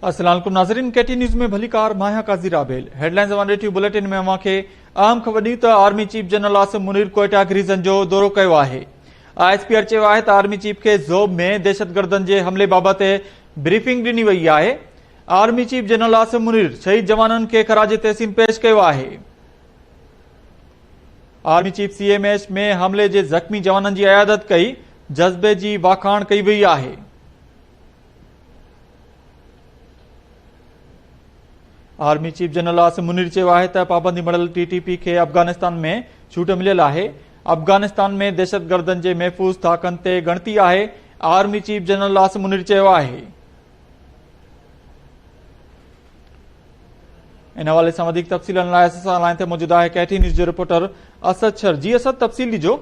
السلام عليڪم ناظرين ڪي ٽي نيوز ۾ ڀليڪار مان آهيان قاضي رابيل هيڊلائنز اوان ريڊيو بليٽن ۾ اوهان کي اهم خبر ڏيون ته army chief general Asim Munir Quetta garrison جو دورو ڪيو آهي آء ايس پي آر چيو آهي ته آرمي چيف کي زوب ۾ دهشتگردن جي حملي بابت بريفنگ ڏني وئي آهي army chief general Asim Munir شهيد جوانن کي خراج تحسين پيش ڪيو آهي army chief C M S ۾ حملي جي زخمي جوانن جي عيادت ڪئي جذبي جي واکاڻ ڪئي وئي آهي army chief general Asim Munir چيو آهي ته پابندي مڙل ٽي ٽي پي کي افغانستان ۾ ڇوٽ مليل آهي افغانستان ۾ دهشتگردن جي محفوظ ٿاڪن تي ڳڻتي آهي army chief general Asim Munir چيو آهي ان حوالي سان وڌيڪ تفصيلن لاء اسان سان لائن تي موجود آهي ڪيٽي نيوز جو رپورٽر اسد شر جي اسد تفصيل ڏجو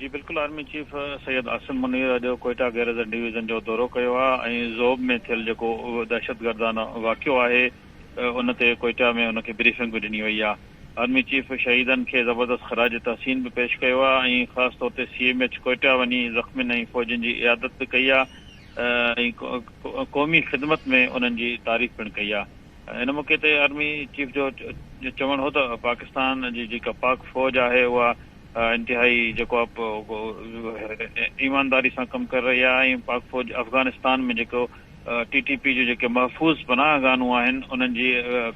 جي بلڪل آرمي چيف سيد عاصم منير اڄ ڪوئيٽا گيريزن ڊويزن جو دورو ڪيو آهي ۽ زوب ۾ ٿيل جيڪو دهشتگردانه واقعو آهي ان تي ڪوئيٽا ۾ ان کي بريفنگ به ڏني وئي آهي آرمي چيف شهيدن کي زبردست خراج تحسين به پيش ڪيو آهي ۽ خاص طور تي سي ايم ايچ ڪوئيٽا وڃي زخمين ۽ فوجين جي عيادت به ڪئي آهي ۽ قومي خدمت ۾ انهن جي تعريف پڻ ڪئي آهي ان موقعي تي آرمي چيف جو چوڻ هو ته پاڪستان جي جيڪا پاڪ فوج آهي اها انتهائي جيڪو ايمانداري سان ڪم ڪري رهي آهي ۽ پاڪ فوج افغانستان ۾ جيڪو ٽي ٽي پي جو جيڪي محفوظ پناهه گاهون آهن انهن جي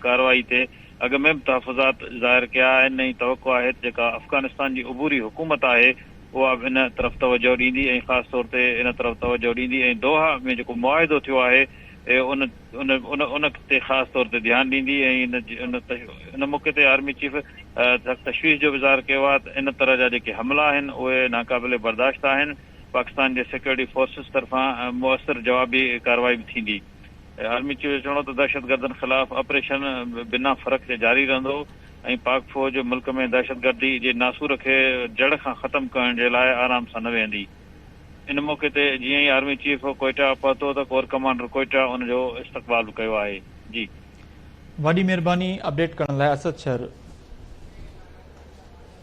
ڪارروائي تي اڳ ۾ به تحفظات ظاهر ڪيا آهن ۽ توقع آهي ته جيڪا افغانستان جي عبوري حڪومت آهي اها به ان طرف توجهه ڏيندي ۽ خاص طور تي ان طرف توجهه ڏيندي ۽ دوحا ۾ جيڪو معاهدو ٿيو آهي ان ان ان تي خاص طور تي ڌيان ڏيندي ۽ ان موقعي تي آرمي چيف سخت تشويش جو به اظهار ڪيو آهي ته ان طرح جا جيڪي حملا آهن اهي ناقابل برداشت آهن، پاڪستان جي سيڪيورٽي فورسز طرفان موثر جوابي ڪارروائي به ٿيندي. آرمي چيف جو چوڻ هو ته دهشتگردن خلاف آپريشن بنا فرق جي جاري رهندو ۽ پاڪ فوج ملڪ ۾ دهشتگردي جي ناسور کي جڙ کان ختم ڪرڻ جي لاء آرام سان نه ويهندي. ان موقعي تي جيئن ئي آرمي چيف ڪوئيٽا پهتو ته ڪور ڪمانڊر ڪوئيٽا ان جو استقبال به ڪيو آهي جي. واڏي مھرباني اپڊيٽ ڪرڻ لاء اسد شھر.